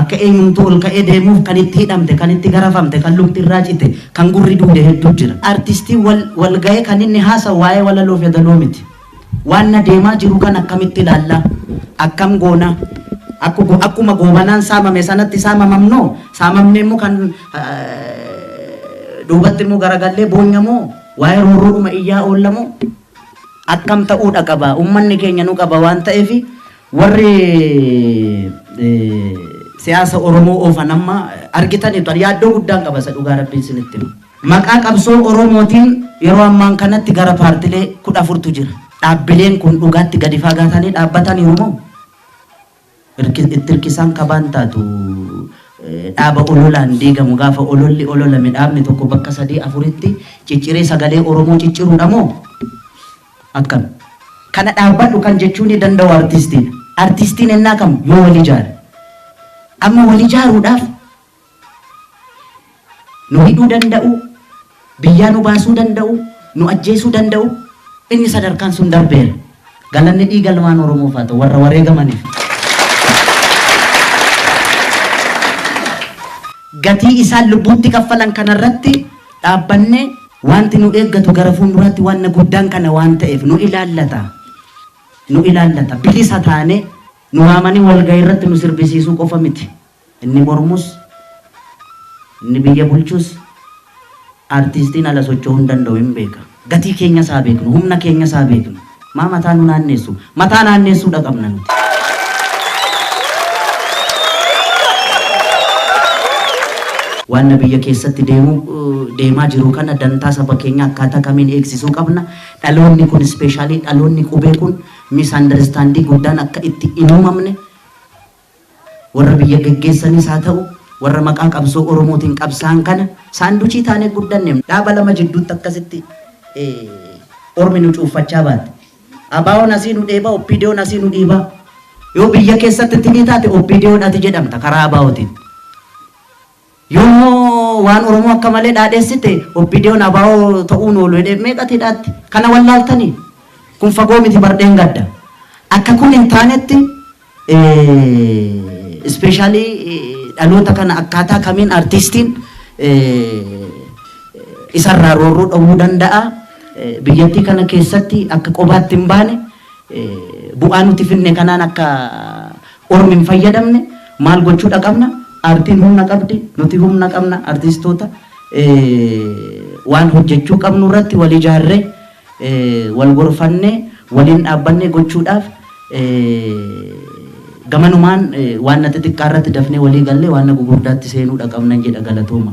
Akka eenyumtuu ol ka'ee deemuuf kan itti hidhamte, kan itti garafamte, kan lukti irraa cite, kan gurri duude hedduu jira. Artistiin wal ga'ee kan inni haasa'u waa'ee walaloof yadaloo miti. Waanna deemaa jiru kana akkamitti ilaalla? Akkam goona? Akkuma Goobanaan saamame sanatti saamamamnoo? Saamamnee immoo kan duubatti immoo garagallee boonya moo? Waa'ee roorroodhuma iyyaa oolla moo? Akkam ta'uudha qaba? Ummanni keenya nu qaba waan ta'eef warri siyaasa Oromoo oofan amma argitaniitu. Yaaddoo guddaan qaba isa dhugaa rabbiin isinitti hima. Maqaa qabsoo Oromootiin yeroo ammaan kanatti gara paartilee 14tu jira. Dhaabbileen kun dhugaatti gadi faagaatanii dhaabbataniiru moo irki, itti irkisaan kabaan taatu dhaaba ololaan diigamu gaafa ololli ololame dhaabni tokko bakka sadii afuritti cicciree sagalee Oromoo cicciruudha moo akkam? Kana dhaabbadhu kan jechuu ni danda'u artistiidha. Artistiin ennaa kam yoo wal ijaare. Amma wal ijaaruudhaaf Nu hidhuu danda'uu, biyyaa nu baasuu danda'uu, nu ajjeesuu danda'uu, inni sadarkaan sun darbeera. Galanni dhiiga ilmaan Oromoof haa ta'u, warra wareegamaniif. Gatii isaan lubbuutti kaffalan kana irratti dhaabbannee wanti nu eeggatu gara fuulduraatti wanna guddaan kana waan ta'eef nu ilaallata. Nu ilaallata. Bilisa taanee nu waamanii walgahii irratti nu sirbisiisuu qofa miti. Inni mormus, inni biyya bulchus artiistiin ala socho'uu hin danda'u hin beeka. Gatii keenyas haa beeknu, humna keenyas haa beeknu. Maa mataa nu naanneessu? Mataa naanneessuudha qabna nuti. Waanna biyya keessatti deemu deemaa jiru kana dantaa saba keenyaa akkaataa kamiin eegsisuu qabna? Dhaloonni kun ispeeshaalii dhaloonni qubee kun misunderstanding guddaan akka itti hin uumamne Warra biyya geggeessanis haa ta'u, warra maqaa qabsoo Oromootiin qabsaa'an kana saanduchii taanee guddanne. Dhaaba lama jidduutti akkasitti Ormi nu cuuffachaa baate. ABOn asii nu dheeba, OPDOn asii nu dhiiba. Yoo biyya keessatti itti ni taate OPDOn ati jedhamta karaa ABOtiin. Yoo immoo waan Oromoo akka malee dhaadhessite OPDOn abo ta'uun oolu jedhee meeqatu hidhaatti? Kana wallaaltanii? Kun fagoo miti bar dheengadda. Akka kun hin taanetti ispeeshaalii dhaloota kana akkaataa kamiin artiistiin isarraa roorroo dhowwuu danda'a. Biyyattii kana keessatti akka qobaatti hin baane bu'aa nuti finne kanaan akka Ormi hin fayyadamne maal gochuudha qabna artiin humna qabdi nuti humna qabna artistoota waan hojjechuu qabnu irratti wal ijaarree wal gorfannee waliin dhaabbannee gochuudhaaf gamanumaan waanna xixiqqaa irratti dafnee walii gallee waanna gugurdaatti seenuudha qabnan jedha galatooma.